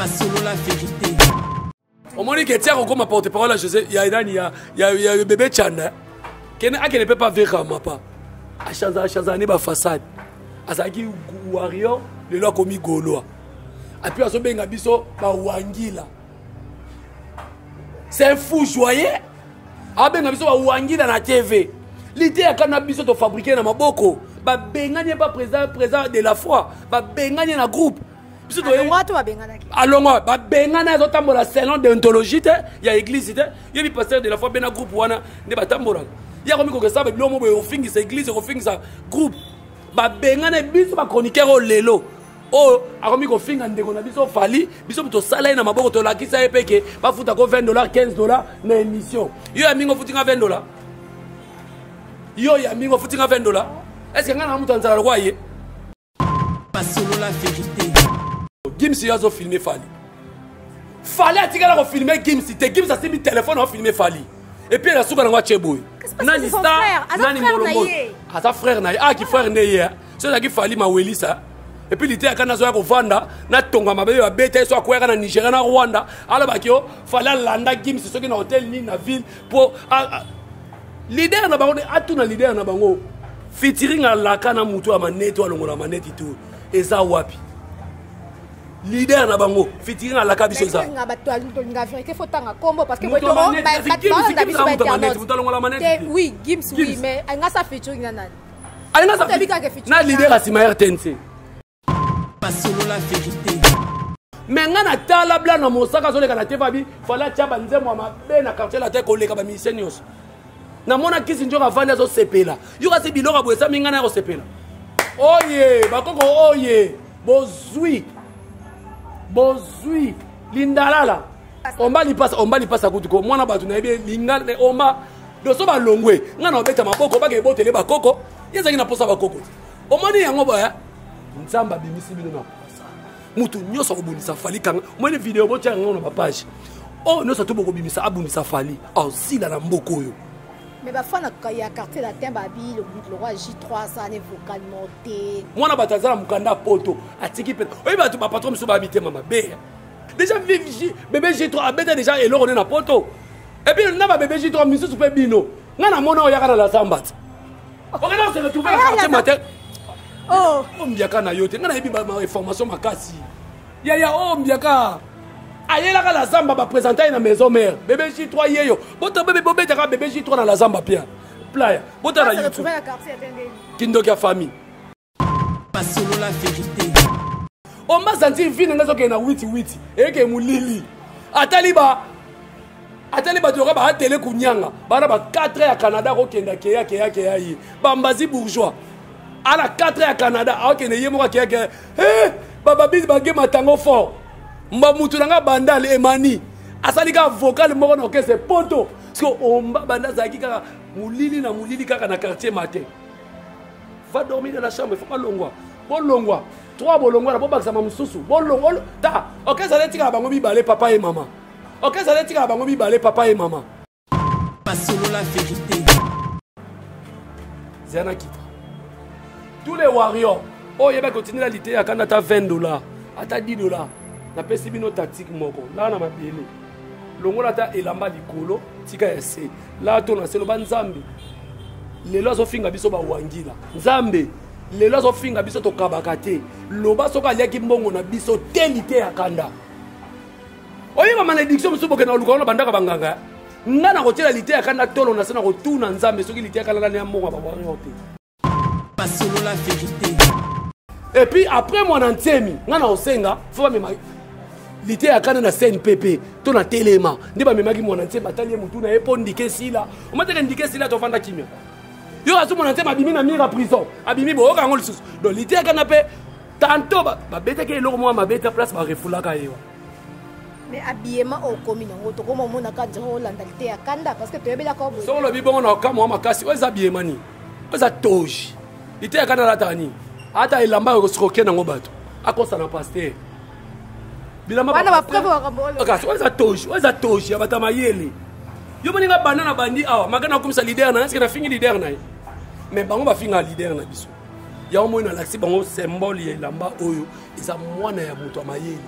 basolola verite omoni ke tia kokoma porte parole ya josé ya nani ya, ya, ya bebe chana kene akende mpe pa vera mapa achanza achanza ne bafaçade azalaki warrior lelo akomi golois apui azobenga biso bawangila c'est un fou joyeux abenga biso bawangila na tv lite ya kana biso tofabrike na maboko babengani ye ba président de la foi babengani ye na groupe biso toyelongwa to babenganaki alongwa babengana azotambola selon deontologie te ya église te yebi pasteur de la foi bena groupe wana nde batambolaka ye akomi kokesa babilo mo boye ofingisa église okofingisa groupe babengana biso bachroniqueur oyo lelo oyo akomi kofinga ndeko na biso fali biso tosala ye na maboko tolakisa ye mpe ke bafuta ko 20 dollar 15 dollar na émission yo ya mingi ofuti nga 20 dollar yo ya mingi ofuti nga 20 dollar est ce que ngai na moto anzala lokwa ye basolola verite gims yo azo filme fali fali atikala kofilme gims te gims asimbi telefone afilme fali epuis na suka nango atye boye nani star nani molongo aza frère na ye aki ah, frère nde ye eh. so ezalaki fali mawelisa epuis liteyaka nazoya kovanda natonga mabe oyo abeta ye so akweyaka na nigeria na rwanda alobaki yo fali alanda gims soki na hotel nini na ville po leader na bango atuna leader na bango fitiring alaka na motu ya maneti alongola maneti to eza wapi leader na bango fitiring alaka biso ezamotoalongola gims oui mais alinga sa fitiring na nani alinga sa na leader ya nsima rtnc basolola verite me ngai natala bla na mosaka azoleka na tefabi fala atya banzembo ya mabe na quartier latin koleka bamisie nyonso namona kisi njoka avandi azosepela yo kasi biloko ya boyesami ngai na ya kosepela oye bakoko oye bozwi bozwi lindalala omba lipasa omba lipasa kutu ko mwana bato nayebi elinga me omba doso balongwe ngai na obeta maboko baka ebotele bakoko ye ezalaki na mposa bakoko te omoni yango boya nzambe abimisi bino na posa moto nyonso akobundisa fali kanga omoni video botya yango na bapage oyo oh, nyonso atu bokobimisa abundisa fali asila na mboka oyo mais bafana ya quartier latin babi lokwa j3 asane vocalement te mwana bato aza na mokanda ya poto atiki mpe oyebi bato bapatron mosusu babi tema mabe déjà bebe j3 abeta déjà eloko nde na poto epuis na babebe j3 misusu mpe bino ngai namona oyaka na lazambati okenda kosele trouve na quartier matin oh. oh, ombiaka na yo te ngai nayebi bainformation makasi yaya o oh, mbiaka ayelaka la zamba bapresenta ye na maison mare bebe j3 yeyo bobetaka bebe j3 na la zamba pia playa botala kindoki ya famille basolola verite omba santi vino nde azokende na witi witi eyeke molili atali ba atali bato yoka baatele kunyanga bana ba 4 ya canada akokenda keya keya keya ye bambazi bourgeois ana 4 ya canada akokende ye moko akeya keya hey! bababisi bage matango fort mba mutu na nga bandal emani asali kaka vocal moko na orchestre poto siko omba banda azalaki kaka molili na molili kaka na quartier matin va dormir dans la chambre faut balongwa bolongwa trois bolongwa na bobakisama mosusu bolongwa ta oke ezali etikala bango mibale papa ye mama oke ezali etikala bango mibale papa ye mama basolola verité zana kita tous les warriors oyo oh, yebaki otindela liteya kanda ata 20 dollars ata 10 dollars napesi bino tactique moko laa na mabele longola ata elamba likolo tika ya se la to na se loba nzambe lelo azofinga biso bawangila nzambe lelo azofinga biso tokabaka te loba soki aliaki mbongo na biso te lite ya kanda oyeba malediction mosusu bokenda koluka wana bandaka banganga eh? ngai nakotyela lite ya kanda tolo na se na kotuna nzambe soki lite ya kanda nani ya mbongo ya babwango te basolola verité et puis après mwana nsemi ngai na osenga fo bamema lite ya kana na cnpp to na telema nde bamemaki mwana nsemi batali ye motu na ye mpo ndike esila omateke ndike esila tovanda kimia yo asu mwana nsemi abimi na mira prison abimi boyoka yango lisusu donc lite ya kana mpe tanto babetaki eloko mwa mabe ta place barefulaka ye wa mais habillement okomi nango tokoma omonaka nzela olanda lite ya kanda parce que toyebelaka soko olobi bongo na okamwa makasi oyo eza habillement nini aza toji liteya kani alataka nini ata elamba ya kosroke nango bato akosana paster bilambaeza toji oeza toji ya bato ya mayele yo moni nga banda na bandi awa maka nakomisa lider na ye eske nafingi lider na ye mais bango bafinga lider na biso yango moi nalakisi bango symbole ya elamba oyo eza mwana ya moto ya mayele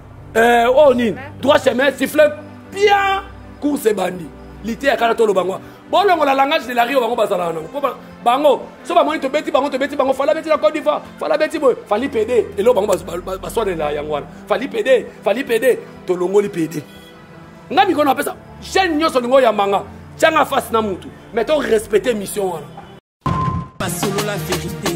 eh, oyo oh, nini droit chemin siffle bien course ebandi liteya kala toloba ngo bolongola langage de la rio bango bazalaka nango mpo bango so bamoni tobeti bango tobeti bango fala beti na cote d'ivoire fala beti boye fali pede eloko bango baswanela yango wana fali pede fali pede tolongoli pede nga mikolo napesa chaine nyonso olingi oyambanga tyanga face na mutu mais to respecte mission wana basolola verité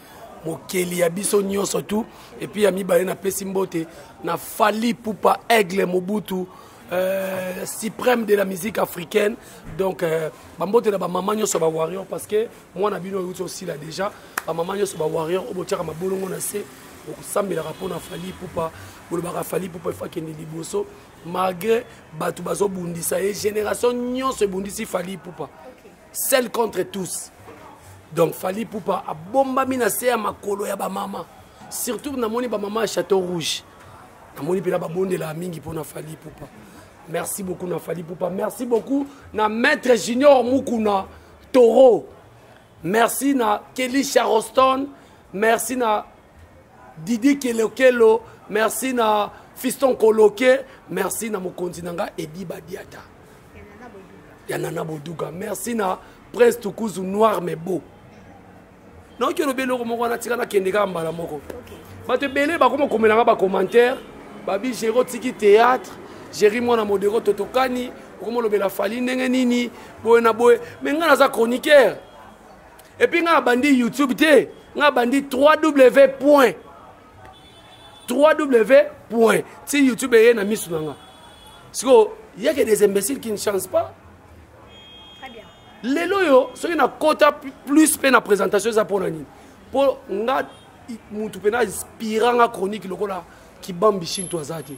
mokeli ya biso nyonso tu epuis ya mibale napesi mbote na fali pupa aigle mobutu Euh, suprême de la musique africaine donc euh, bambote na bamama nyonso ba warrior parce que mwana bino euti osila déjà bamama nyonso ba warrior oyo botyaka mabolongo na se okosambelaka mpo na fali pupa bolobaka fali pupa efo akende liboso malgré bato bazobundisa ye génération nyonso ebundisi fali pupa seul contre tous donc fali pupa abombami na se ya makolo ya bamama surtout namoni bamama ya chateau rouge namoni mpena babondelaka mingi mpo na fali pupa merci beaucoup na fali pupa merci beaucoup na maître junior mukuna toro merci na kelly charoston merci na didi kelokelo merci na fiston koloke merci na mokonzi na nga edi badiata ya nana boduga merci na prince tukuzu noir mais beau naoki olobi eloko moko wana tika nakende kaka mbala moko bato ebele bakoma komela nga bacommentaire babi jero tiki théâtre jeri mwana modero totokani okoma olobela fali ndenge nini boye na boye me ngai naza chroniqueur epuis ngai abandi youtube te ngai abandi 3w point 3w point ti youtube eye na miso na nga sikoyo yeke des imbéciles qui ne chance pas lelo oyo soki nakota plus mpe na présentation eza mpo na nini mpo nga motu mpe na inspira nga chronique lokola kibambi shinto aza te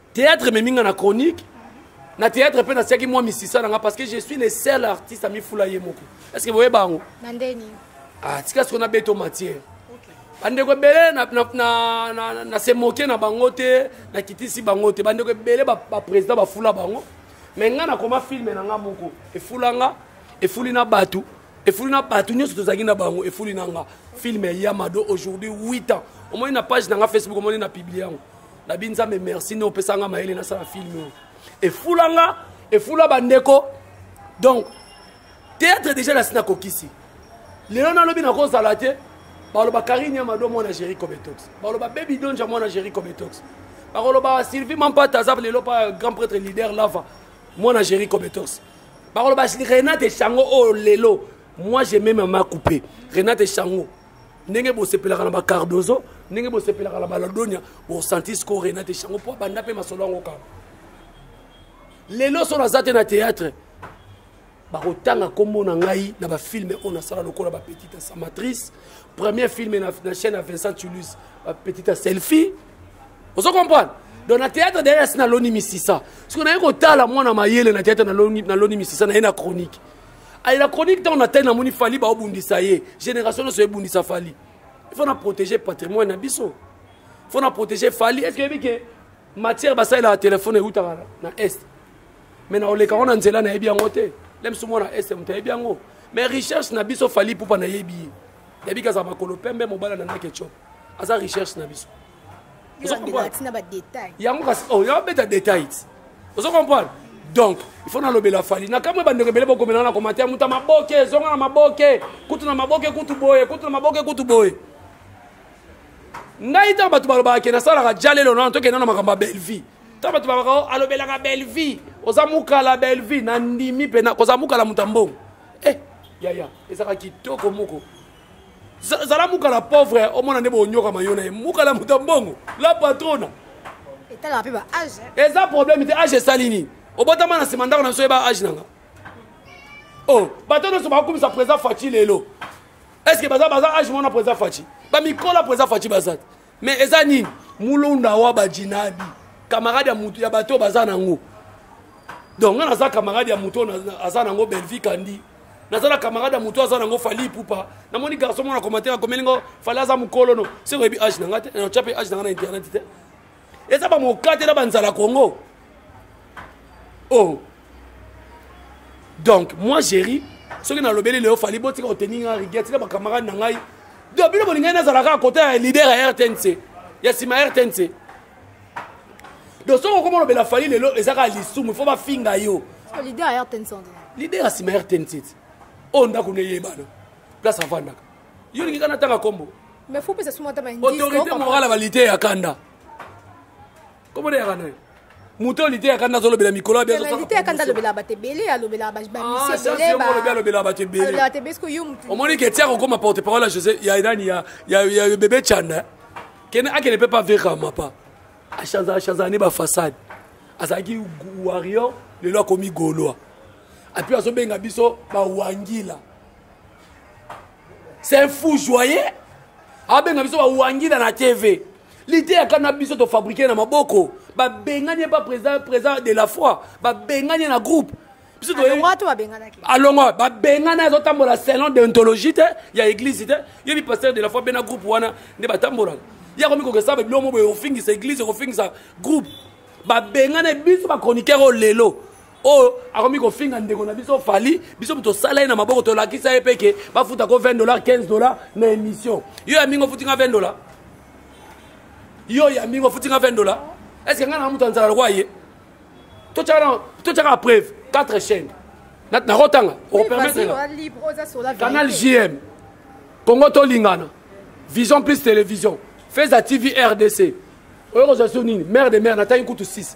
Théâtre ememi nga na chronique. Na théâtre pe nasiaki mwa misisa na nga parce que je suis le seul artiste ami fula ye moko. Est-ce que vous voyez bango? Na ndeni. Ah, tika siko na beto matière. bandeko ebele na se moke na bango te nakitisi bango te bandeko ebele baprésident bafula bango me ngai nakoma filme na ngai moko efula nga efuli na bato efuli na bato nyonso tozalaki na bango efuli na nga filme ya yamado aujourd'hui 8 ans omoni na page na nga facebook omoni na publie yango na bi nzambe merci nde opesa nga mayele nasala filme oyo efula nga efula bandeko donc théâtre déjà nasi nakokisi lelo nalobi nakozala te baloba karine ya mado mwana géri cometox baloba baby donja mwana géri cometox bakoloba sylvie mampata aza lelo pa grand prêtre leader lava mwana géri cometox bakoloba renate chango oyo oh, lelo moi je meme ma coupe renate chango ndenge bosepelaka na bacardozo ndenge bosepelaka na baladonia bosanti siko rena te shango mpo abanda mpe masolo yango kaka lelo so naza te na théâtre bakotanga nkombo na ngai na bafilme oyo nasala lokola bapetite ya samatrice premier filme na, na chaîne ya vincent tulus bapetite ya selfie ozo comprendre donc na théâtre derrière asi naloni misisa soki naye kotala mwana mayele na théâtre naloni misisa naye na chronique aye na chronique ntango na tai namoni fali baobundisa ye génération nyonso ebundisa fali il faut na protéger patrimoine na biso il faut na protéger fali est ce que yebi ke matière basalelaka telefone eutaka na est mais na oleka ngo na nzela nayebi yango te le biso mwana est moto ayebi yango mais recherche na biso fali pupa nayebi ye yabi ke azala makolo pembe mobala na nake chop aza recherche na biso yango kasi oyo oh, yabeta details ozo comprendre donc il faut nalobela fali na kamwe bandeko ebele bokomela na commentaire moto ya maboke ezonga na maboke kutu na maboke kutu boye kutu na maboke kutu boye ngai ntango bato balobaka ke nasalaka jalelo nano tokenda na makambo ya bellevie ntango bato balobaka oh, alobelaka bellevie oza mukala bellevie nandimi mpe kozala mukala moto ya mbongo e eh, yaya ezalaka kitoko moko zala mukala pauvre omona nde bonyokama yo na ye mukala moto ya mbongo la patrona etalaka mpe ba age eza problème te age esali nini obotama na nsima ndako na biso yeba age nanga o oh, bato nyonso bakokumisa président faci lelo est ce que baza baza age mona président faci bamikola président faci baza te mais eza nini mulonda wa bajinabi camarade ya mutu ya bato baza nango donc nga naza camarade ya moto aza nango belvi kandi naza na camarade ya moto aza nango fali pupa namoni garçon mona commentaire akomeli ngo fali aza mokolo no se oyebi age na nga te otya mpe age na nga na internet te eza bamokate na banzala congo o oh. donc moi géri soki nalobeli leo fali botika koteni nga rigueur tika bacamarade na ngai do bino bolingai nazala kaka kota ya leader ya rtnc ya nsima ya rtnc do soki okoma olobela fali lelo eza kaka lisumu ifo bafinga yo leader ya rtnc leader ya nsima ya rtnc oyo ndako neyebana place avandaka yo olingi kana tanga nkombo autorité morale ya balite ya kanda Comment dire à nous moto lite ya kanda azolobela mikolo ya bialite ya kanda alobelaka bato ebele alobelaka bamiseolobi alobelaka bato ebeleomoni ke tia kokoma porte parole ya josé ya nani ya bebe chanda kene akende mpe pa vera mapa achanzala ne bafaçade azalaki warrior lelo akomi golois apui azobenga biso bawangila c'est un fou joyeux abenga biso bawangila na tv liteya kana biso tofabrike na maboko babengani ye pa président président de la foi babengani ye na groupe biso alongwa babengani azotambola selon deontologie te ya église te yebi pasteur de la foi bena groupe wana nde batambolaka ye akomi kokesa babilo mo boye kofingisa église kofingisa groupe babengani biso bachroniqueur oyo lelo oyo akomi kofinga ndeko na biso fali biso moto osala ye na maboko tolakisa ye mpe ke bafuta ko 20 dollar 15 dollar na émission yo ya mingi ofuti nga 20 dollar yo ya mingi ofuti nga 20 dollar est ce que ngai na moto anzala lokwa ye totyaka preuve 4 chaîne nakotanga okopermettre canal jm congo tolingana vision plus télévision feza tv rdc oyo kozwa so nini mare de mare natangi kutu 6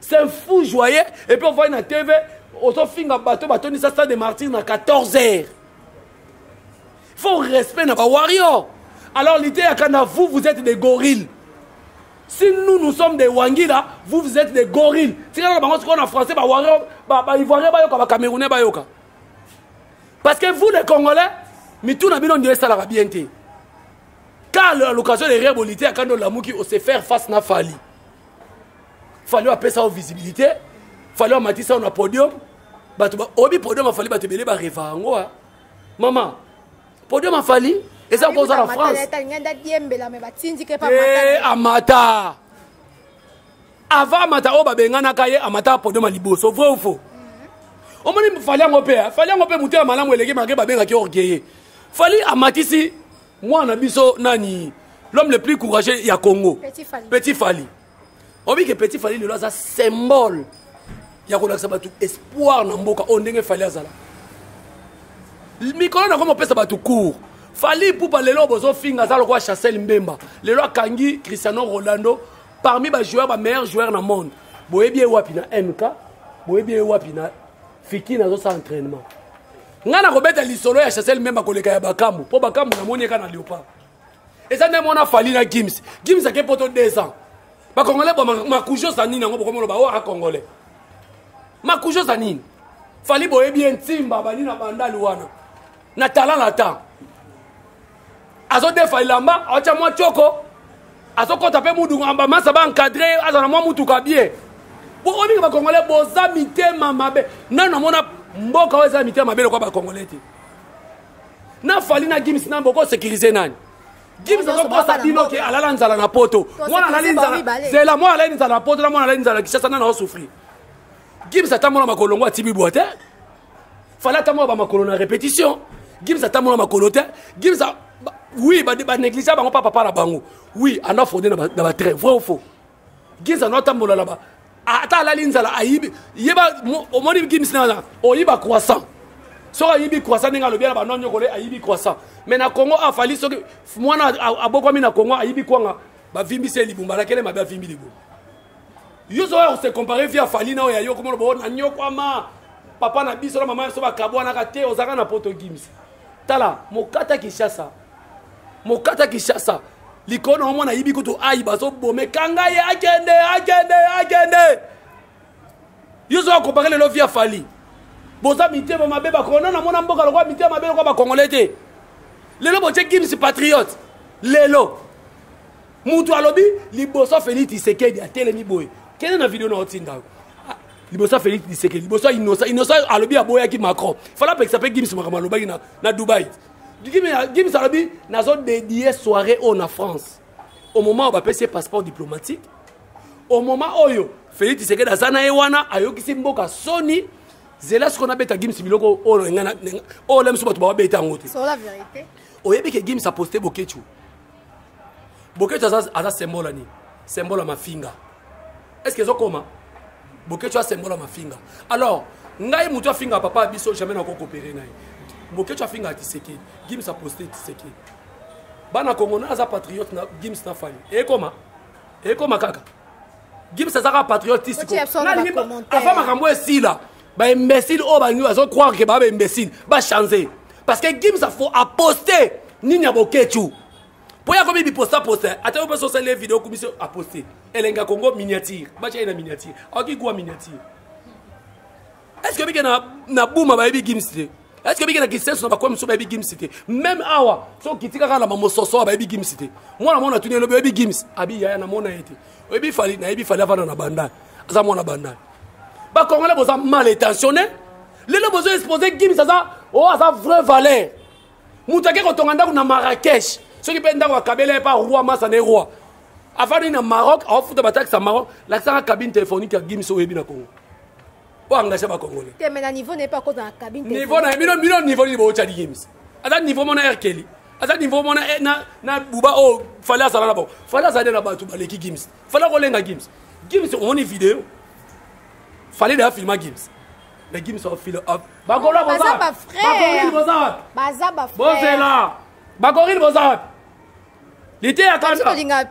c'est un fou joyeux et puis ovandi na tv ozofinga bato batondisa stade de martyr na 14 heures faut respect na bawarrior alors lite ya kanda vous vous êtes des gorilles si nous nous sommes des wangila vous vous êtes des gorilles tikala na bango sikoyo na français bawarrior baivoirien bayoka bacamerounais bayoka parce que vous les congolais mitu na bino ndio esalaka bien te car à l'occasion de rire bolite ya kanda olamuki ose faire face na fali fali apesa yo visibilité fali amatisa yo na podium bato oyebi podium afali bato ebele bareva yango a mama podium afali eza koza na france eh, amata avant amata oyo babenganaka ye amata podium ya liboso vrai ou faux omoni fali yango mpe fali yango mpe motema malamu eleki make babengaki orgueille fali amatisi mwana biso nani l'homme le plus courageux ya congo petit fali oyebi ke petit fali lelo aza symbole ya kolakisa bato espoir na mboka oyo ndenge fali azala mikolo na yango mopesa bato cour fali pupa lelo bozofinga aza lokola chassel mbemba lelo akangi cristiano rolando parmi bajoueur bameilleur joueur na monde boyebi ye wapi na mk boyebi ye wapi na fiki nazosala entraînement ngai nakobeta lisolo ya chasel mbemba koleka ya bakambu mpo bakambu namoni eka na leopard eza nde mona fali na gims gims ake poto 2 ans bakongolais bo makujo za nini yango bokomoloba o aka congolais makujo za nini fali boyebi ye ntimba bani na bandali wana na tala na temps azodefa elamba aotya mwa tioko azokɔta mpe muduka bamasa baencadre azala na mwa mutuka bie olinga bakongole boza mitema mabe nani namona mboka oyo eza mitema mabe lokwa bakongole te na fali na gims na boko sécurise nani gims azokosa bino ke alala nzala na poto mwana alali nzala zela mwana alali nzala na poto na mwana alali nzala na kishasa nani aosouffrir gims atambola makolongo atibibwa te fala atambola bamakolo na répétition gims atambola makolo te gims oui banégligea bango mpa papa na bango oui ando afraude na batrait vrai ou faux gims ando atambola na ba ata alali nzala ayibi yeba omoni gims na oyiba croissant soki ayibi croissant ndenge alobi na bano nyokole ayibi croissant mais na congo afali soki mwana abokwami na congo ayibi kwanga bavimbisi ye libumba alakele mabe avimbi libumba yo ozoya kose compare vie ya fali na oyo ya yo komona bo na nyokwama papa na biso na mama ya biso bakabwanaka te ozalaka na poto gims tala mokata kinshasa mokata kinshasa likolo na omwana ayibi kutu ayi bazobome kanga ye akende akende akende yo ozoya compare lelo vie ya fali boza mitema mabe bakona namona mboka lokola mitema mabe lokola bakongole te lelo botie gims patriote lelo mutu alobi liboso félix tisekedi atelemi boye kende na video na otinda yo ah, liboso félix tisekedi liboso inosa inosa alobi aboyaki macron fala apekisa mpe gims makambo alobaki na, na dubai gims alobi nazo dedie soirée oyo na france au moment oyo bapesi ye passeport diplomatique au moment oyo félix tisekedi aza na ye wana ayokisi mboka soni zela sikoyo nabeta gims biloko oyo oyo lamiso bato bababeta yango te oyebi ke gims aposte bokechu bokecho aza, aza symbole ya nini symbole ya mafinga est ce que ezokoma bokecho asembola mafinga alors ngai moto afinga papa ya biso jamais nako kopere na ye bokecho afinga tisekedi gims aposte tisekedi bana kongo na aza patriote na gims na fali ekoma ekoma kaka gims azaka patriote tisikoava makambo esila ba imbécile oyo balingi bazo croire ke baa ba imbécile bachange parce que gims afo aposte nini ya boketshu mpo ye akomi biposta posta ata yo mpe sosali ye video okumisi aposte elenga kongo miniature batya ye na miniature aoki kuwa miniature est ce que bike na buma bayebi gims te est ce que bikenda kisenso na bakomi mosusu bayebi gims te meme awa so okiti kaka na bamososo awa bayebi gims te mwana mwana atuni elobi oyebi gims abi yaya namona ye te oyebi fali nayebi fali avanda na bandal aza mwana bandal bakongole boza mal intentionne lelo bozo expose gims aza o oh, aza vrai valeur moto ake kotonga ndako na marrakech soki mpe ndako akabela ye mpa roi masa ne roi afandi na maroc aofuta bataxe ya maroc lakisaka cabine téléphonique ya gims oyebi na congo o engagea ba congolais te mais na niveau na ye mpe akota na cabine niveau na ye bino bino niveau nini bootya liyemis aza niveau mona erkeli aza niveau mona eh, na, na buba oyo oh, fale azala na bango fale azali na bato baleki gims fale akolenga gims gims omoni video fale deya filma gims mais gims afila bakola boza bakoril boza wapi baza ba bozela bakoril boza wapi liteya kanda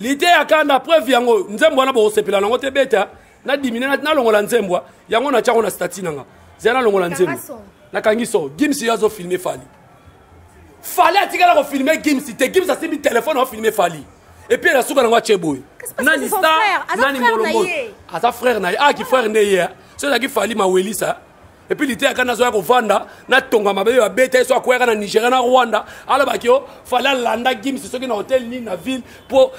liteya kanda preuve yango nzembo wana bokosepela nango te beta na dimine na longola nzembo yango na tiango na statut nanga zela na longola nzembo na kangi so gims yo azo filmer fali fali atikala ko filmer gims te gims asimbi telefone ao filmer fali epuis na suka nango atie boye nani star nani molombo aza frère na ye aki ah, frère nde ye so ezalaki fali mawelisa epuis liteyaka nazoya kovanda natonga mabe oyo abeta ye so akweyaka na nigeria na rwanda alobaki yo fali alanda gims soki na hotel nini na ville mpo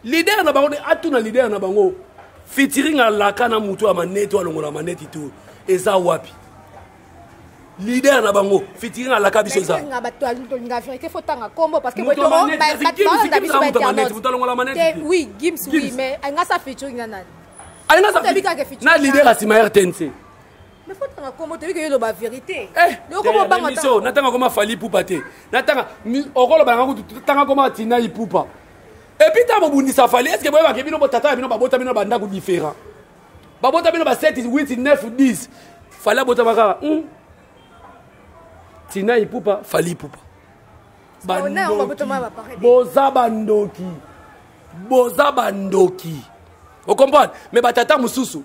Leader na bango de atuna leader na bango featuring alaka na moto ya maneti alongola maneti to eza wapi leader na bango fitiri na laka biso eza oui gims oui mais nga sa featuring na nani na leader asima rtnc nafotaka kombo toyebi ke yoloba verité eh, okobobangamiso natanga koma fali ipupa te natanga okoloba nanga kutu tanga koma tina ipupa epuis ntango bobundisa fali estce boyebake bino botata ya bino babota bino bandako différent babota bino ba 7 8 9 10 fali abotama kaka hmm. tina ipupa fali ipupa boza bandoki boza bandoki okomprendre me batata mosusu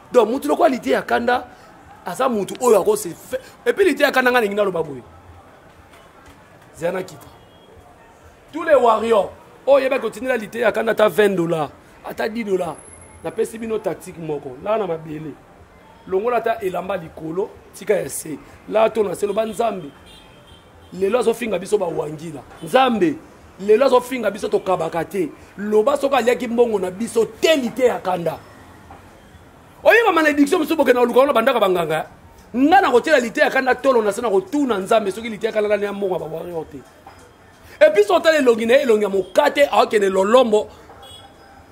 donc mutu lokola lite ya kanda aza mutu oyo akose epuis lite ya kanda ngai alingi naloba boye zela nakita tous les warrior oyo oyebaki otindela lite ya kanda ata 20 dollar ata 10 dollar napesi bino tactique moko laa na mabele longola ata elamba likolo tika ya se laa to na se loba nzambe lelo azofinga biso bawangila nzambe lelo azofinga biso tokabaka te loba soki aliaki mbongo na biso te lite ya kanda oyo bamalediction mosusu bokenda koluka wana bandaka banganga ngai nakotyela lite ya kanda tolo na se na kotuna nzambe soki lite ya kanda nani ya mbongo ya bawario te epuis otala elongi na ye elongi ya mokate aokende lolombo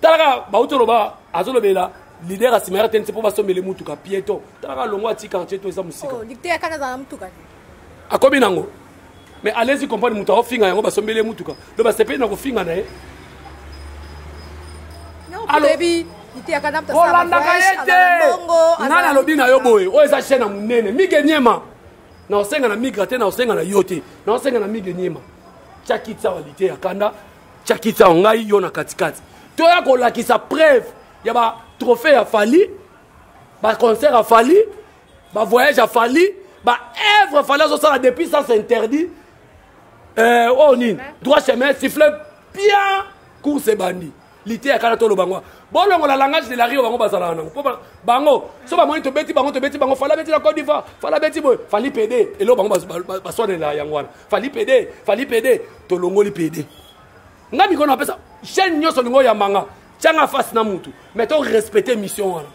tala kaka bauti oloba azolobela lider asima ya rtnc mpo basombele motuka pieto tala kaka longo ati quartier to eza mosika oh, akomi nango mais alezi comprendre moto akofinga yango basombeli ye motuka lo basepeli na kofinga na ye olandaka ye te ngai nalobi na yo boye oyo eza chaine ya monene mige niema naosenga na migra te naosenga na yo te naosenga na mige niema tyakitsawa lite ya kanda chakitao ngai yo na katikati toya kolakisa preuve ya ba trophée ya fali ba concert ya fali ba voyage ya fali ba œuvre fali azosala depuis sens interdit euh, oyo oh, nini droit chemin siffle bien course ebandi liteya kala toloba ngo bolongola langage de la rio bango bazalaka nango mpo bango so bamoni tobeti bango tobeti bango fala beti na cote d'ivoire fala beti boye fali pede eloko bango baswanela yango wana fali pede fali pede tolongoli pede nga mikolo napesa chaîne nyonso olingi oyamba nga tyanga face na mutu mais to respecte mission wana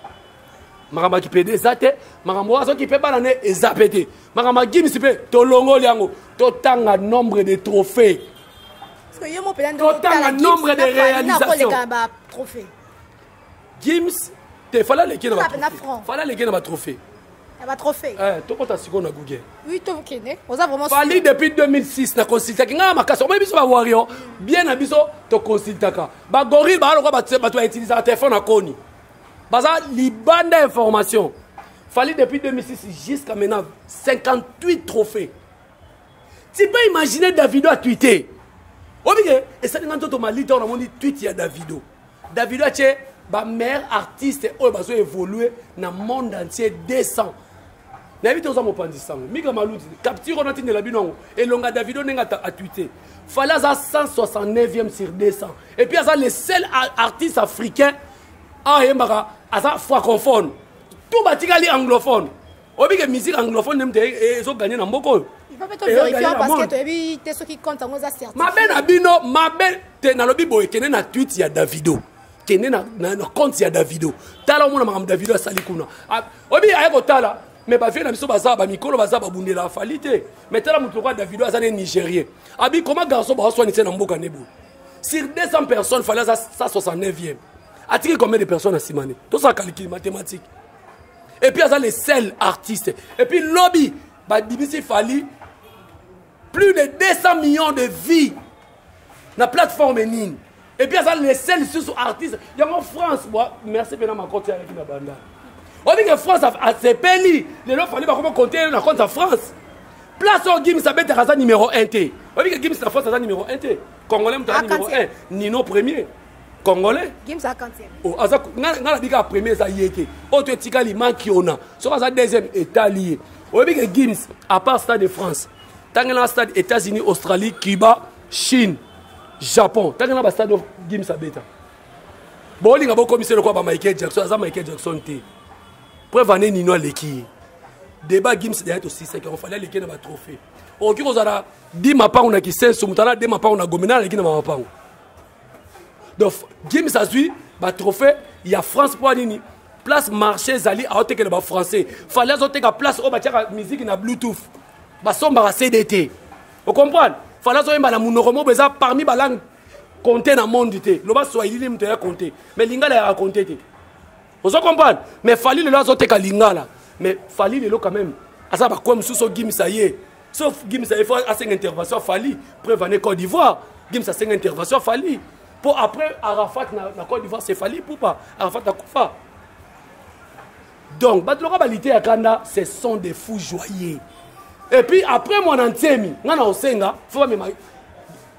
makambo ya kipede eza te makambo wana soki mpe bana nde eza mpe te makambo ya gimisi mpe tolongoli yango totanga nombre de trophée totanga nombre de réalisation Gims te fala leke na franc. Fala leke na ba trophée. Na ba trophée. Eh toko ta siko na Google. Oui to kende. Oza vraiment Fali depuis 2006 na consultaki nga makasi. Omo biso ba warrior bien na biso to consultaka. Ba gorille ba aloko ba ba to utiliser téléphone na koni. Baza libanda information. Fali depuis 2006 jusqu'à maintenant 58 trophées. Tu peux imaginer Davido a tweeté. Obike esali nga nzoto malita on a moni tweet ya Davido. Davido atie ba meilleurs artistes oyo bazo évoluer na monde entier 200 nayebi te oza mopanzi sango mika maluti capture wana atindela bino yango elonga davido ndenge atwite fale aza 169e sur 200 et puis aza le seul artiste africain ayembaka aza francophone tout batikali anglophone oyebi ke musique anglophone nde moto ezoganye na mboka oyo mabe na bino mabe te nalobi boye kende na twit ya davido kende na, na, na compte ya davido tala omona makambo davido asali kuna ah, oyebi aye kotala me bavie na biso baza bamikolo baza babundela afali te me tala moto lokola davido aza ne nigérien abi koma garçon baoswanise na mboka ne boye sur 200 personnes fali aza 169e atiki combien de personnes asimani tosala calcul mathématique et puis aza le seul artiste et puis lobi babimisi fali plus de 200 millions de vies na plateforme nini et puis aza le seul lisusu artiste yango france bwa merci mpena makoti aleki na banda obike france asepeli lelo fali bakoma konte na compte ya france place oyo gims abetaka aza numero 1 te obike gims na france aza numero 1 te congolais moto aza numero 1 nino premier congolais gims a quantième oh aza nga na bika premier eza ye te oyo to etikali makiona soki aza deuxième etali ye oyebi ke gims à part stade de france tangela stade états-unis australie cuba chine japon tangela bastade oyo gims abeta bolinga bokomisa eloko ya ba michael jackson aza michael jackson te preuve ane nino aleki ye débat gims deya tosisaki yango fali aleki na batrophée okoki kozala di mapango na kisenso moto ala de mapango na gomena aleki na mamapango donc gims azwi batrophée ya france mpo nini place marché ezali aotekela bafrançais fali azoteka place oyo batiaka miziki na bluetooth basombaka cd te ocomprendre fali azoyemba na monoko moko eza parmi balangue compte na monde te loba swahili nde moto ya compte mais lingala yaka compte te ozo comprendre mais fali lelo azoteka lingala mais fali lelo quand même aza bakoya mosusu ogimisa ye sauf gimisa ye fo asenga intervention fali preuve ane côte d'ivoire gimisa asenga intervention fali mpo après arafat na, na côte d'ivoire c'est fali pupa arafat akufa donc bato loka balite ya kanda ce sont des fous joyeux et puis après mwana nsemi ngai na osenga fo bamema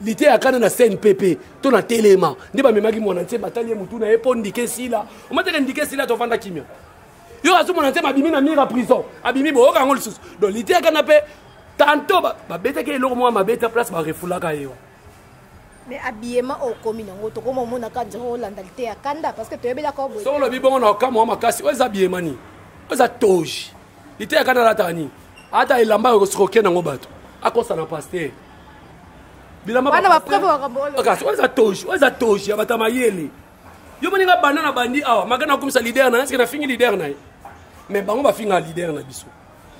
liteya kana na cnpp to na telema nde bamemaki mwana nse batali ye motu na ye mpo ndike esila omateke ndike esila tovanda kimia yo azomona nse babimi na mire ya prison abimi boyoka yango lisusu donc liteya kana mpe tanto babetaki eloko moko mabe ta place barefulaka ye mais habillement oyo okomi nango tokoma omona ka nzoko olanda liteya kanda parce que toyebelaka soko olobi bongo na okamwa makasi oyo eza habillement nini oyo eza toge liteya kata alataka nini ata elamba okosokoke nango bato akosana pastere bilambaeza toji oeza toji ya bato ya mayele yo moninga banda na bandi awa maka nakomisa lider na ye seke nafingi lider na ye mais bango bafinga lider na biso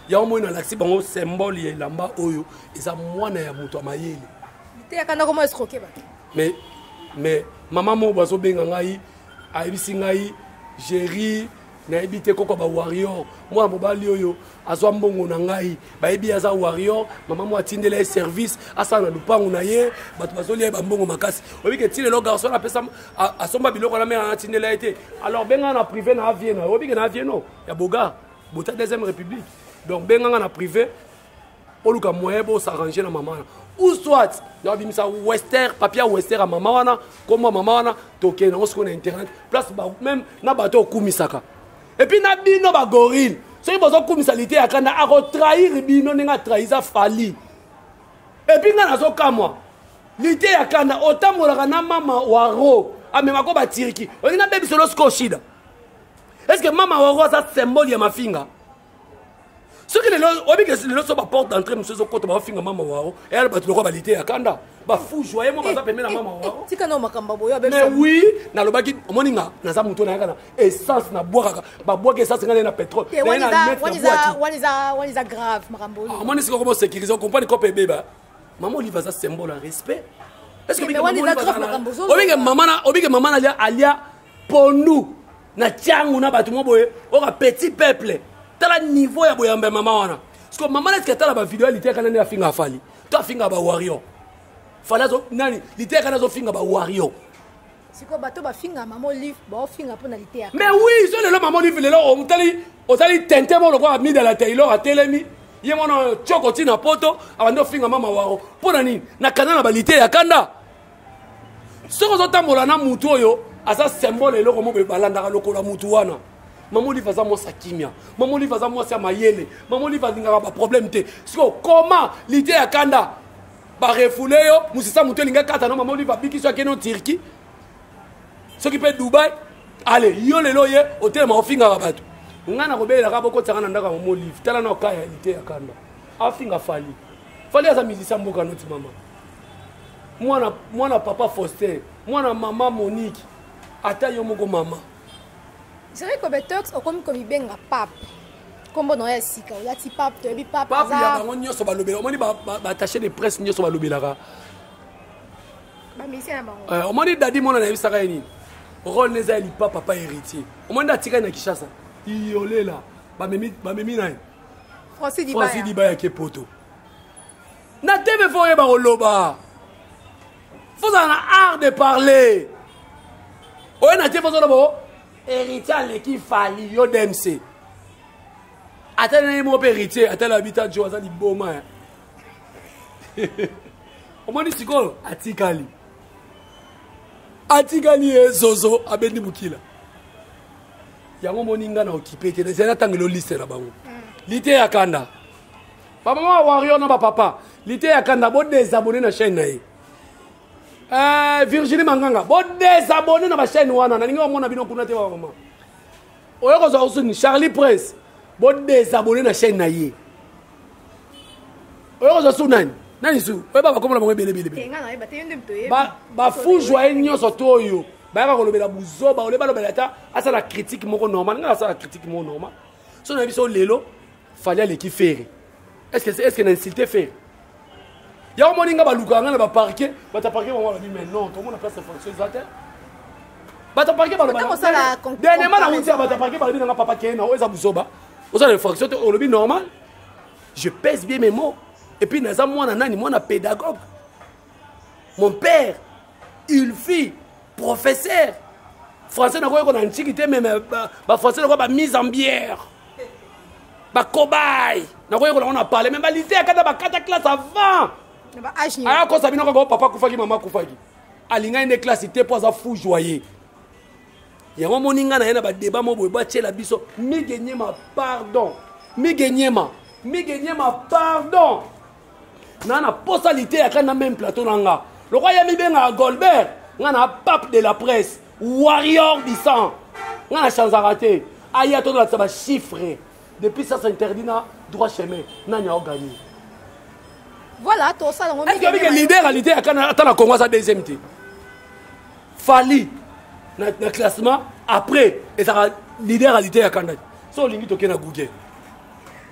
yango moi nalakisi bango symbole ya elamba oyo eza mwana ya moto ya mayele mais mais mama moko bazobenga ngai ayebisi ngai géri nayebi te koko ba warrior mwana mobali oyo azwa mbongo na ngai bayebi aza warrior mama mwa atindela ye service asala na lupangu na ye bato bazolia ye bambongo makasi oyebi ke ti lelo garçon apesa asomba biloko na mera atindela ye te alors benga na privé na avieno oyebi ke na avieno ya boga bota deuxième république donc benga nga na privé boluka moyen bosarrange na mama wana ou soit nabimisa wester papier ya wester ya mama wana kombo ya mama wana tokende yango sikoyo na internet place meme na bato okumisaka epuis na bino bagorile soki bozokumisa lite ya kanda akotrahir bino ndenge atrahiza fali epuis ngai nazokamwa lite ya kanda otambolaka na mama waro amemako batiriki olingi nabebisa olo sikoyo shida estce mama waro aza symbole ya mafinga soki lelo oyebi ke lelo so baporte d'entrée mosusu ezokota baofinga mama wao eyala bato lokola balite ya kanda bafu joye mo baza pembe na mama wao tika na makambo boyo mais oui nalobaki omoni nga naza moto oyo nayaka na essence nabwakaka babwaki essence ngai na pétrole waniza grave makambo oyo omoni sikoyo komo sécurise okomprani kope ebeba mama olive aza symbole ya respect est ce que obike mama na alia pondu na tiangu na bato mwa boye oka petit peuple tala niveau ya boyamba ya mama wana siko mama neske tala bavideo ya liteka nani afinga afali to afinga bawario fali azo nani liteka nazo finga bawario siko bato bafinga mama olive baofinga mpo na liteya mais oui so lelo mama olive lelo omutali ozali tente mo lokola mida la taylor atelemi ye mwana coko ntina poto abandi ofinga mama waro mpo na nini na kanda na balite ya kanda soki ozotambola na mutu oyo aza symbole eloko moko ebalandaka lokola mutu wana mama olive aza mwasi ya kimia mama olive aza mwasi ya mayele mama olive alingaka baproblème te sikoyo koma lite ya kanda barefule yo mosisa moto elingi akata no mama olive abikisi akende o turquie soki mpe dubai ale yo lelo ye otelema ofingaka bato ngai nakobelelaka bokotisaka na ndako ya mama olive tala na oka ya lite ya kanda afinga fali fali aza mizisa mboka noti mama mwana mwana papa faustin mwana mama monique ata yo moko mama jere kobetox okomi komibenga pape nkombo na yo ya sika olati pape toyebi pape pape ya bango nyonso balobela omoni batache de presse nyonso balobelaka bamisien na bango eh, omoni dadi mwana nayebisaka ye nini role neza ya lipa papa héritier omoni nde atikali na kinshasa iyolela bamemi na ye franci diba yake poto na tv fo oyeba koloba fozala na art de parler oye na te fozala bo héritier aleki fali yo dmc atali na ye moko mpe héritier atali abita jo aza liboma ya omoni sikoyo atikali atikali ye zozo abendi mokila yango omoni nga na okipe te ezali natangelo liste na bango mm. lite ya kanda bamama wario na bapapa lite ya kanda bodesabone na chaîne na ye eh, virginie manganga bodesabone na bachaîne wana nalingi bamona bino kuna te bamama oyo kozwa osuni charlie prince bodesabone na chaîne na ye oyo kozwa su nani nani su oyeba bakomona bango ebelebelebe bafu joye nyonso to oyo bayaka kolobela buzoba ole balobela ata asala critique moko normal ngai asala critique moko normal so na biso lelo fali aleki fere estce na insulte fere yango moni nga balukaka nga na baparke bato ya parke bango balobi mais non tomona place ya fonction eza te bato ya parke balobadeniema na wuti ya bato ya parke balobi nanga papa keye na oyo eza buzoba oza na infraction te olobi normal je pèse bien mes mots et puis naza mwana nani mwana pédagogue mon père il fit professeur français nakoki kona ntiki te meme bafrançais nakoki bamise en bière bakobai nakoki kona ngo na parle me balise akata bakata classe avant aya kosa bino kaka papa akufaki mama akufaki alingaki nde classe te mpo aza fou joye yango omoni ngai na ye na badeba mo boye batyela biso migenyema pardon migenyema migenyema pardon na na posa liteya kani na meme plateau na nga lokola ye mibengaka golbert nga na pape de la presse warrior du sang nga na chanzaka te aya tozolakisa bachiffre depuis ça s'interdit na droit chemin nani aoganie voilà tosala ngo est-ce que leader à leader kana ata na Congo sa deuxième te Fali na, na classement après ezaka leader à leader ya kanaki so olingi tokenda Google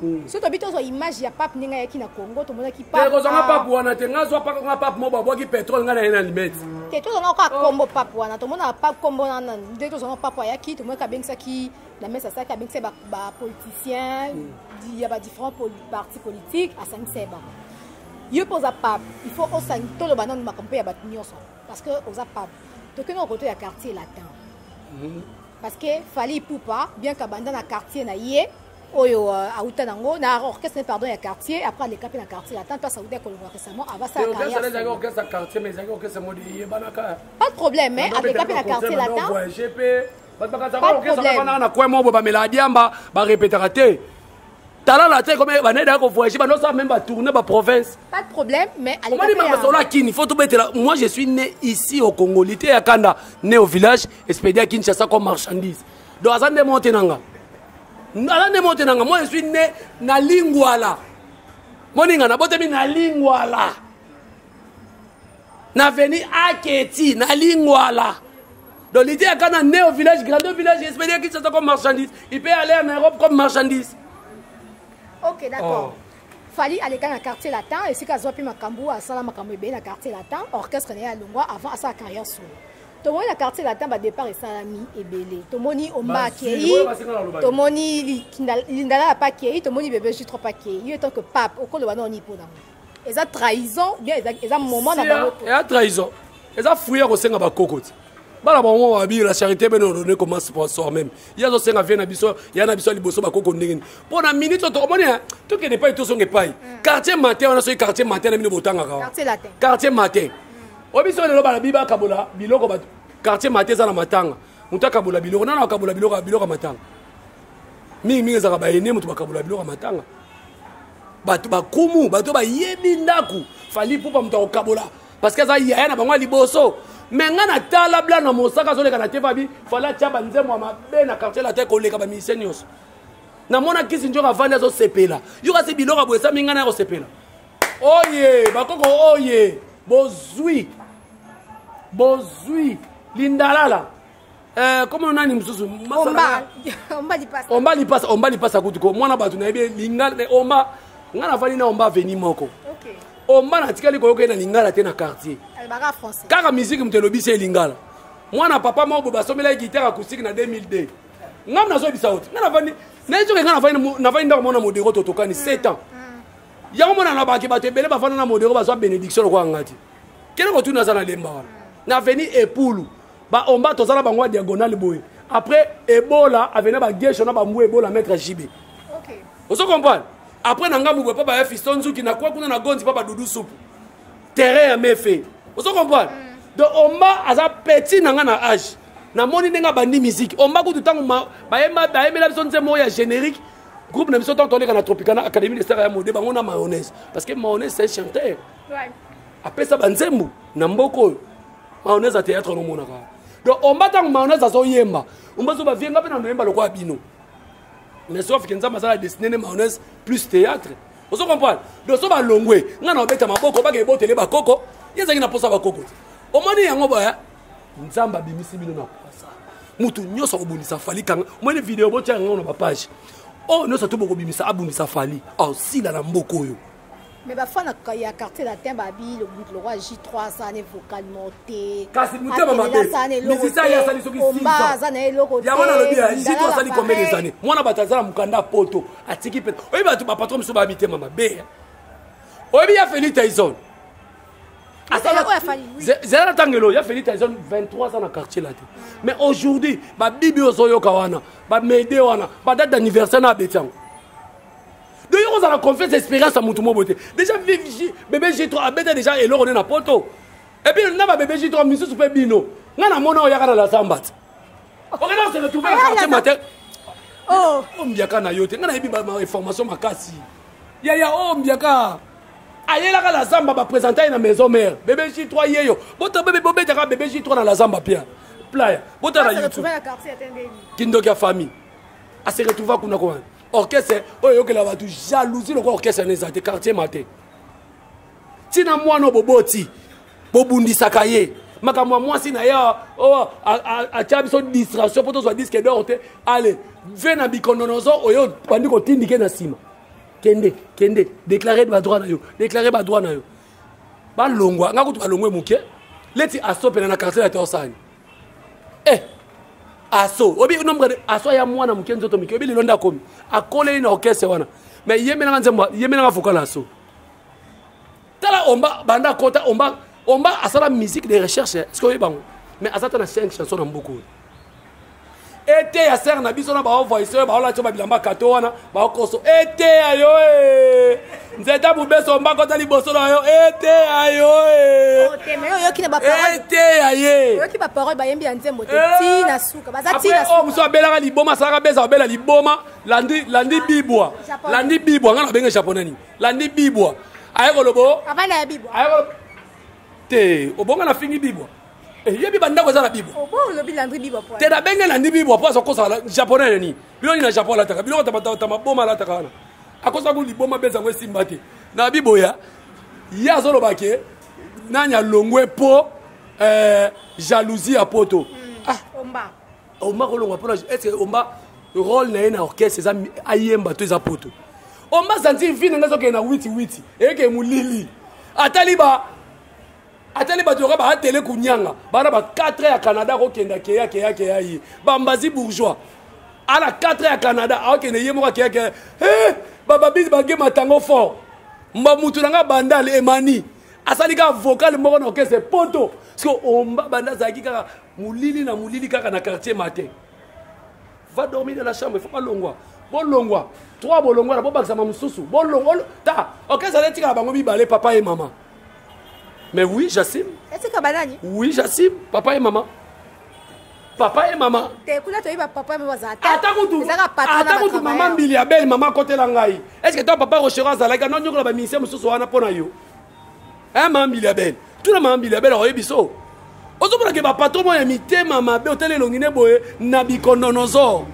Hmm. soki tobi tozwa image ya pape ndenge ayaki na congo tomonaki papekozwanga pape wana te nga zwa pakanga pape moko babwaki petrole ngai na ye na limete te tozwanga kaka oh. kombo pape wana tomonaka pape kombo wana nde tozwanga pape ayaki tomonaki abengisaki na mesa asalaki abengisaki bapoliticien hmm. ya badifférent parti politique asangisaki bango yo mpe oza pape il faut osangi toloba nanu makambo mpe ya bato nyonso parce que oza pape tokende kokoto ya quartier latin hmm. parce que fali ipupa bien kabanda na quartier na ye oyo euh, awuta nango na orchestre ne pardon ya quartier après aleka mpe na quartier ata mpe asauta ekolongola récemment avasaapas de problème mais aleka mpe na quartier latin na coin moko bamela adiamba barepetaka te tala na te comme banayi daya kovoyage bandosa meme batourne baprovince pas de problème mais omoni mamasolo ya kini faut tobetela moi je suis né ici au congo lite ya kanda né au village expédie ya kinshasa comme marchandise donc aza nde monte na nga aza nde mote na nga moi je suis ne na lingwala moninga nabotami na lingwala na veni aketi na lingwala donc lite yaka na ne au village grande village espédia kinshasa comme marchandise il peut aller en europe comme marchandise ok d'accord oh. fali aleka na quartier latin esika azwa mpe makambo asala makambo ebele na quartier latin orchestre na ye alongwa avant asala carrière solo tomoni na quartier latin badépart esalami ebele tomoni omba akei tomoni lindala ya pa akei tomoni bebe jutro pa akei yo etant que pape okoloba nao nini mpo nango eza trahison bien eza moment na bango eza trahison eza fruit ya kosenga bakoko ti bana bango babiyo la charité bene odone koma sponsor meme ye azosenga vie na biso ya na biso ya liboso bakoko ndenge nini mpo na minute oto omoni tokende epai tozonga epai quartier matin wana soki quartier matin na bino botangaka quartier matin oyebi soki lelo balobi bakabola biloko bato quartier mate eza na matanga moto akabola biloko nana akabola biloko biloko ya matanga mingi mingi ezalaka bayene moto bakabola biloko ya matanga bato bakumu bato bayebi ndako fali pupa moto akokabola parce que aza yaya na bango ya liboso me ngai natala bla na mosaka azoleka na tefabi fali atya banzembo ya mabe na quartier latin koleka bamisie nyonso namona kisi njoka avandi azosepela yo kasi biloko aboyesami ngai na ya kosepela oye bakoko oye bozwi bozwi lindalala eh, komo nani mosusu omba lipasa omba lipasa kutu ko mwana bato nayebi eh, linga eh, omba ngai nafandi na omba aveni moko omba natikali koyoka ye na lingala te na quartier kaka miziki moto elobisi ye lingala mwana papa moko boye basombelaki gitare acoustique na 2002 ngai nazoyebisa oti ngai nafandi nayezoke ngai nafandi ndako mwana modero totokani 7 ans yango mona nalobaki bato ebele bafanda na modero bazwa benediction lokola ngai te kende kotuna aza na lemba wana na aveni epulu baomba toza na bango ya diagonale boye après ebola aveni na bagesho na bambu ebola maître jb ozo comprendre après na ngambo boye mpo baya fisto nzuki na kwa kuna na gonzi mpo badudu supu terrain ya mefe ozo comprendre mm. donc omba aza petit na ngai na age namoni ndenge abandi miziki omba kutu ntango bayemela biso nzembo oyo ya générique groupe na biso ntango toleka na tropicana académie de star ya mode bango na mayonnaise parce que mayonnaise c'est chanteur apesa banzembo na mboka oyo mayonnaise ya théâtre nomonaka donc omba ntango mayonnaise azoyemba omba azoba vie nga mpe na noyemba lokola bino mais sauf ke nzambe aza na destiné ne mayonnaise plus théâtre ozo comprendre donc so balongwe nga na obeta maboko baka ebotele bakoko ye ezalaki na mposa bakoko te omoni yango boya nzambe abimisi bino na pwasa moto nyonso akobundisa fali kanga omoni video botya yango na bapage oyo oh, nyonso to bokobimisa abundisa fali asila na mboka oyo mais bafana ya quartier latin babi lobutu lokwa j3 aza ne vocalement te kasi motema mabemisisa ye asali soki aza na eloko yango nalobi ya j3 asali combien des années mwana bato aza na mokanda ya poto atiki mpe oyebi bato bapatron mosusu baya mitema mabe oyebi ya feli taison zela na ntango elo ya feli tyson 23 ans na quartier la te mais aujourd'hui babibi ozoyoka wana bamede wana badate d'anniversaire na abeti yango donc yo kozala confiance expérience ya motu mobo te déjà bebe g3 abeta déjà eloko nde na poto epuis na babebe g3 misusu mpe bino ngai namona oyaka na lazamba te okenda kosele trouve na quartier matin ombiaka na yo te ngai nayebi bainformation makasi yaya ombiaka ayelaka la zamba ba presenta ye na maison mère bebe J3 yeyo bota bebe bobetaka bebe J3 na la zamba pia playa bota na YouTube kindoki ya famille a se retrouva kuna ko orchestre oyo eyokela bato jalousie lokola orchestre na eza te quartier ma te ntina mwana boboti bobundisaka ye makambo ya mwasi na ye oh, atya biso distraction mpo tozwa diske dor te ale ve na bikondonozo oyo bandi kotindike na nsima kende kende déclare ba droit na yo déclare ba droit na yo balongwa nga kutu balongwe moke leti asopela na quartier ya torsani eh aso obi nombre de aso ya mwana moke nzoto moke obi lelo nde akomi akoleli na orchestre wana mais yemelanga nzembo yemelanga vocal aso tala omba banda akota omba omba asala musique de recherche eh. soki oyebango mais aza ta na 5 chanson na mboka oyo eteya sere na biso na baovoice oyo baolati yo babilamba kato wana baokoso eteya yo e nzeta mobeso mbako ta liboso na yo eteya yo e eteya ye oyo mosusu abelaka liboma asalaka beza obela liboma landi bibwa landi bibwa ngai na benge japonais nini landi bibwa aye koloba o papa na ya bibwa aye koloba te obonga na fingi bibwa eh, yebi bandako eza na bibwa obo olobi landri bibwa po te nabenge landi bibwa po azokosala japonais nani bino nini na japon alataka biloko ta maboma alataka wana akosaka ngo liboma beza yango esimba te na biboya ye azoloba ke nani alongwe po eh, jalousie ya poto mm, ah. omba omba kolongwa mpona estce omba role na ye na orchestre eza ayemba to eza poto omba zanzi vi na ngai ezokende na witi witi eyeke molili atali ba atali bato yoka baatele kunyanga bana ba 4 ya canada akokenda keya keya keya ye bambazi bourgeois ana 4 ya canada akokende ye moko akeya keya eh, bababisi bage matango fort mba mutu na ngai bandale emani asali kaka vocal moko na okese poto siko omba banda azalaki kaka molili na molili kaka na quartier matin va dormir dans la chambre il faut pas longwa bolongwa trois bolongwa na bobakisama mosusu bolongwa ta ok ezali etikala bango mibale papa ye mama mais oui jasime etika banani oui jasime papa ye mama papa ye mama ata kutu mama mbili ya bele mama akotela ngai estce to papa rochero azalaki anonyokola baministère mosusu wana mpo na yo eh mama mbiliabel tuna mama mbiliabel akoyebi so ozomona ke bapatro moko ya mitema mabe otali elongi ne boye na bikondonozo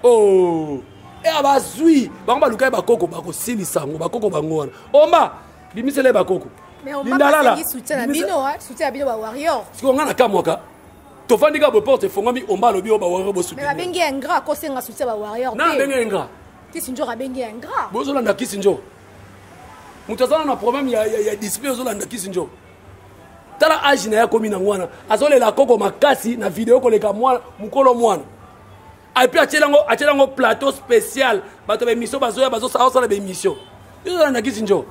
o oh. e eh, bazwi bango baluka ye bakoko bakosilisa yango bakoko bango wana omba bimisela ye bakoko lindalala sikoyo ngai nakamwaka tofandi kaka boporte efongwami omba alobi oyo bawario bosunabengi ya ingrat kosenga soutien bawario na abengi ya ingrat kisinjor abengi ya ingrat bozolanda kisinjor moto aza na problème ya, ya, ya discipline ozolanda kisi njo tala age na ye akomi nango wana azolela koko makasi na video koleka mwana mokolo mwana epuis atyeli yango atyeli yango plateau spécial bato ya baémission bazoya bazosala baémission ezolanda kisi njo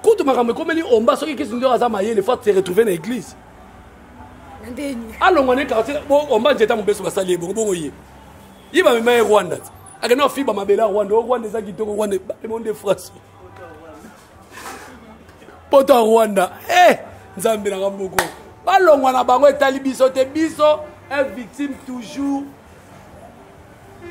kutu makambo ekomeli omba soki kisi njo aza mayele fo se retrouve na église alongwa ne quartier omba nzeta mobeso basali ye bongo bongo ye ye bamema ye rwanda ti akenda kofiba mabele ya rwanda o rwanda eza kitoko rwanda ebamema nde france poto ya rwanda e nzambe nanga mboko balongwa na bango etali biso te biso un victime toujours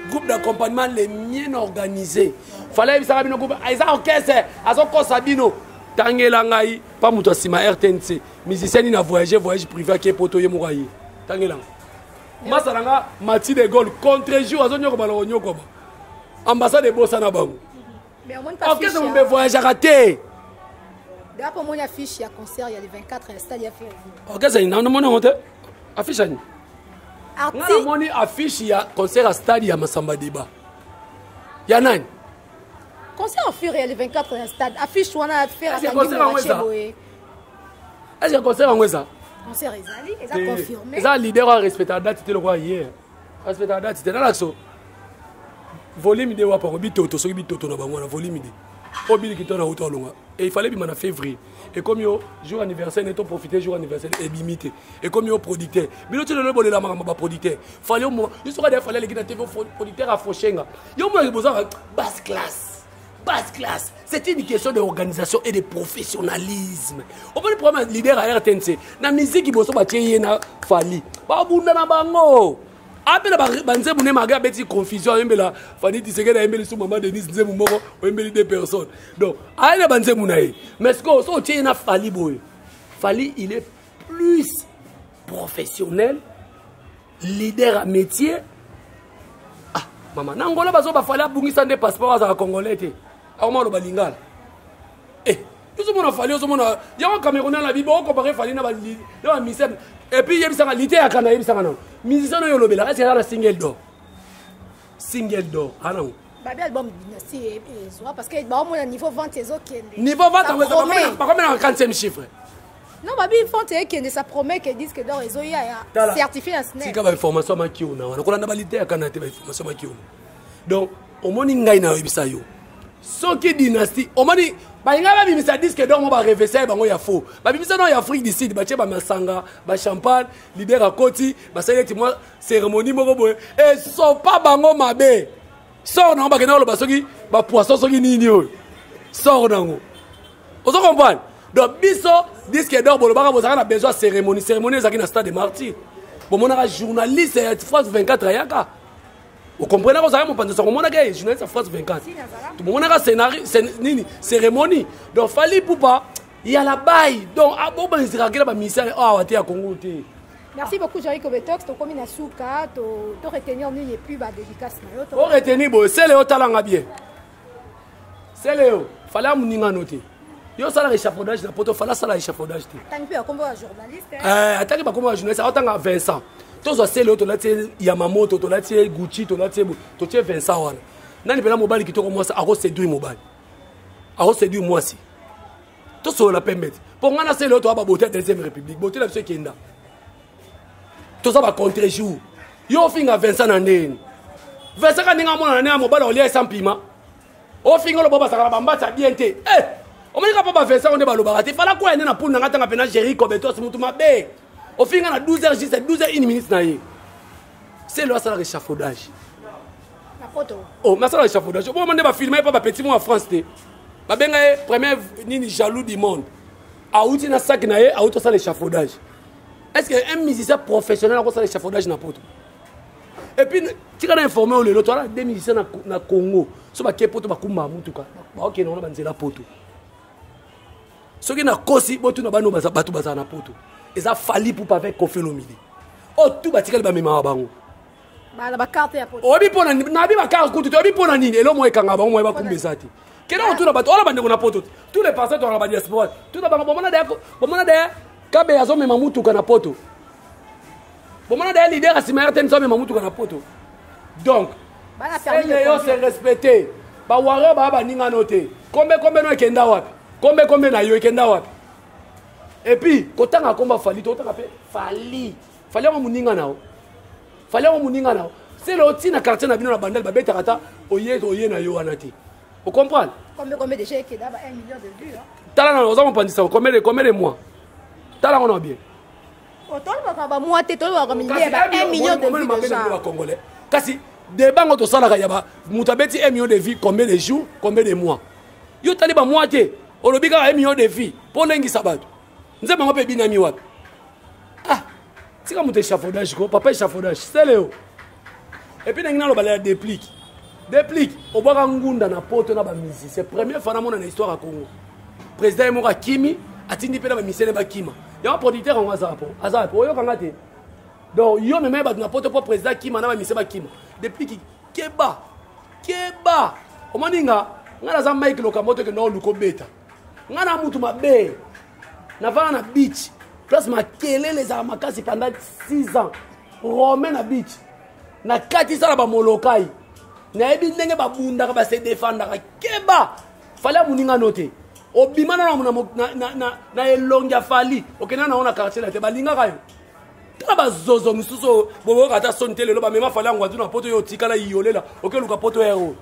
groupe d'accompagnement les mien organisé fala yebisaka bino groupe ah, eza orchestre azokosa bino tangela ngai mpa moto ya nsima rtnc musicien nini avoyage voyage privé ake poto ye moko aye tangela ngai masa na nga mati de gaulle contre jour azonyokoba na konyokoba ambassade ebosana bango orchestre mombe voyageaka te dapo omoni affiche ya concert ya le 24 ya stade ya fervi orchestre nini namoni yango te affiche ani nga namoni affiche ya concert ya stade ya masamba deba ya nani concert ya ferre ya le 24 ya stade affiche wana ferre akangi moache boye est ce que concert yango eza concert ezali eza eh, confirmé eza leader oyo arespectaka date te lokola ye arespectaka date te nalakso volume de wapa yango bitoto soki bitoto na bango wana volume de oyo biliki to na uta olonga e il fallait ebima na février ekomi yo jour anniversaire ne to profite jour anniversaire ebimi te ekomi yo producteur bino ti lelo ebolela makambo baproducteur fale omona yo soki ade fale aleki na tv producteur afoshenga yo omonaki bozaka basse classe base classe c'est une question de organisation et de professionnalisme omoni problème ya leader ya rtnc na miziki boso batie ye na fali babunda na bango abela banzembu ne mage abeti confusion ayembela fani tisekedi ayembeli su mama denise nzembu moko oyembeli deux personnes donc aye na banzembu na ye mais sikoyo so otie ye na fali boye fali il est plus professionnel leader ya métier ah, mama na angola bazo bafali abungisa nde passeport azala congolais te akoma aloba lingala eh, ozomona fali ozomona yango camerounais na bibo okompare fali na bamisem epuis yebisaka lite ya kana yebisaka nango musicien oyo olobelaka esi aza na single dor single dor anango babi album dynastie eh, eh, ezwa parce que baomona niveau vente ezokende niveau vente bakomelaka 40e chiffre Non, babi, ils font que ne sa promet que disent que d'or, ils ont eu certifié un SNEC. Si, quand formation ma kiona, on a qu'on a validé à Canada, formation ma kiona. Donc, au moins, il y a une website. soki dynastie omoni balinga babimisa diske donc ba revesai bango ya faux babimisa no ya afrique du sud batie bamasanga bachampagne lider akoti basali eti mwa cérémonie moko boye esopa bango mabe sor nango bakenda koloba soki bapoisson soki nini oyo sor nango ozo comprendre donc biso disque d'or bolobaka bozalaka na besoin ya cérémonie cérémonie ezalaki na stade de martyr bomonaka journaliste ya france 24 ayaka okomprenaka ozalaka mopanzi sango omonaka ye journaliste ya france 24 tomonaka scénario nini cérémonie donc fali pupa ya labai donc ah, bobangisaka kela bamisare ah, awa te ya kongo te merci beaucoup joyeux kobetox tokomi na suka to retenir nini epuis badédicace na yo o retenir boye sele otalanga bien seleo fala muninga no te yo osalaka échafaudage na poto fala asala échafaudage te ataki bakombo ya journaliste aotanga vincent tozwa sele oyo tolati ye yamamoto tolati ye gucci tolati ye totie vincent wana nani mpena mobali kitoko mwasi akoseduire mobali akoseduire mwasi tosolola pembe te mpo ngai na sele oyo toya baboti ya deuxième république boti na biso ekenda toza ba contre jour yo ofinga vincent na ndeni vincent ka ndenge amona na ndenge ya mobali olia esa mpima ofinga oloba bazalaka na bambatsa bien te eh! omonika mpo bavincent onde balobaka te fala kwaya nde na puni na ngai tanga mpena géri cobetos motu mabe ofinga na 12 heures juste 12 heures 1 minute na ye selo asalaka échafaudage oh, mais asalaka échafaudage oboma nde bafilme ye mpo bapetit mo ya france te babenga ye premier nini jaloux du monde awuti na saki na ye awuti osala échafaudage est ce que un musicien professionnel akosala échafaudage na poto epuis tika na informe oyo lelo toala de musicien na congo so bake poto bakumbaka motuka baokende wana banzela poto soki nakosi botuna bano bato bazala na poto eza fali pupa avec kofelomide oyo oh, tu batikali bamemaka bango oyebi mpo nayebi bakarte kutu te oyebi mpo na nini elo moko ekanga bango moye bakumba eza te kende kotuna bato wana bandeko na poto tous les passants tolaka badiaspora tuna bango bomona daya kabe azomema motuka na poto bomona daya lider asima ya rtn azomema motuka na poto donc sende yo se respecte bawario baa baninga no te kombe kombe no ekenda wapi kombe kombe na yo ekenda wapi epuis kotanga komba fali tokotanga mpe fali fali yango moninga na yo fali yango moninga na yo sele oti na quartier na bino na bandal babetaka ata oye oye na yo wana te ocomprendre tala nano oza mopandisa combien de mois tala yango na bien oh, tolobaka bamwa te tolobaka milieu ba 1 million de vues déjà bacongolais kasi débat ngo tosalaka ya ba moto abeti 1 million de vues combien de jours combien de mois yo tali bamwa te olobi kaka 1 million de vues mpo olengisa bato nzembo yango mpe ebinami wapi ah tika moto échafaudage ko papa échafaudage seleo epuis nangi nalobala ya déplique déplique obwaka ngunda na poto na bamisi c'est première fois namona na histoire ya congo président ye moko akimi atindi mpe na bamisene bakima yango producteur yango aza po aza po oyokanga te donc yo meme bato na poto mpo président akima na bamise bakima déplique keba keba omoni nga ngai naza mike lokambo te okende oluka obeta nga na mutu mabe navanda na beach place makelele ezalaka makasi pendant 6 ans romain na beach nakatisa na bamolokai nayebi ndenge babundaka base defandaka keba fali ya moninga no te obima na na elongi ya fali okenda na yango na quartier na te balingaka yo tala bazozo mosusu oyo boboyoka ata soni te lelo bamema fali yango atu na poto yo otikala iyolela okeluka poto ya oyo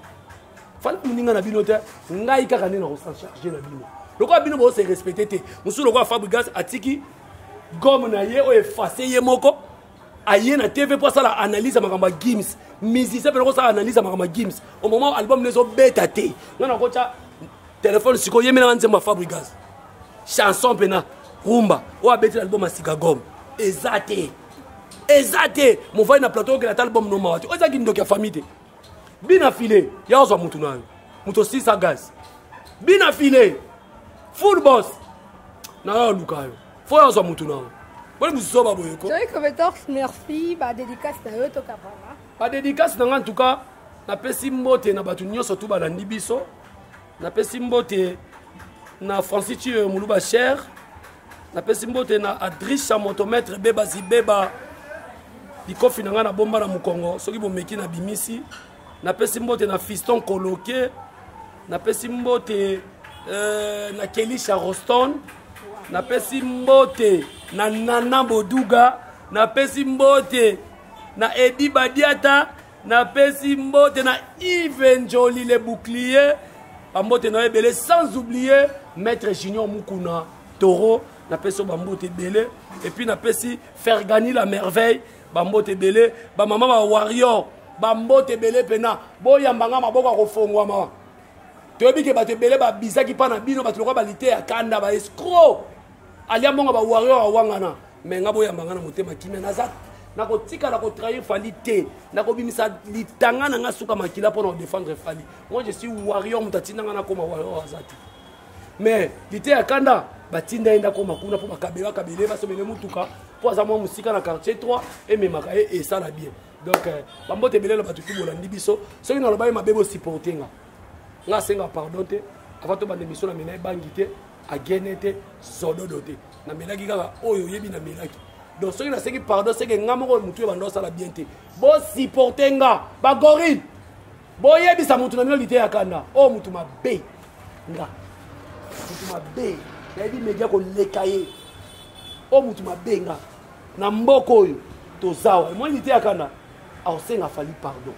fanda moninga na bino te ngai kaka nde nakosancharge na bino lokola bino bose respecte te mosusu lokola fabrigas atiki gome na ye oyo efase ye moko aye na tv mpo asala analyse ya makambo ya gims musicien mpe nakosala analyse ya makambo ya gims au moment album na ezobeta te nga nakotya telefone sikoyo yemelaka nzembo ya fabrigas chanson mpena rumba oyo abeti na album ya sika gome eza te eza te movali na plateau okela ata album nomawa te oyo eza kindoki ya famille te bina file ya ozwa mutu nayo moto osisa gaz bina file full boss nayo aluka yo fo yo azwa motu nayo boni mosusu oba boye ko merci badédicace na yo tokabana badédicace na ngai en tout cas napesi mbote na bato nyonso tu balandi biso napesi mbote na francis tiyo moluba cher napesi mbote na adrisha motometre beba zibeba likofi na ngai na bomba na mokongo soki bomeki na bimisi napesi mbote na fiston koloke napesi mbote euh, na kelisha roston napesi mbote na nana boduga napesi mbote na edi badiata napesi mbote na ive njoli le bouclier bambote na yo ebele sans oublier maître junior mukuna toro napesi yo bambote ebele epuis napesi fergani la merveille bambote ebele bamama ba warrior bambote ebele mpena boyamba nga maboko ya kofongwama toyebi ke bato ebele babisaki mpa na bino bato lokola balite ya kanda baescro alia mbongo ba warrior awangana me nga boyamba nga na motema kimia naza nakotikala kotrahir fali te nakobimisa litanga na nga suka makila mpo na kodefendre fali moi je suis warrior moto atinda nga nakoma warrior aza te mais lite ya kanda batinda ye ndakoma kuna mpo bakabela kabele basobele motuka mpo aza mwa mosika na quartier 3 ememaka ye esala bien donc euh, bambote ebele na bato tu bolandi biso soki nalobaki mabe bosupporte nga nga asenga pardon te avant tobanda emission na mena ebangi te agene te zododo te namelaki kaka oyo oyebi namelaki donc soki nasengi pardon seke nga moko motu ebanda osala bien te bosupporte nga bagorille boyebisa motu na bino lite ya kanda oyo oh, motu mabe nga motu mabe nayebi media koleka ye oyo oh, motu mabe nga na mboka oyo tozawa emoni lite ya kanda aosenga fali pardon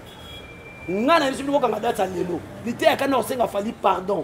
nga na biso bino kokanga dati ya lelo lite ya kanda aosenga fali pardon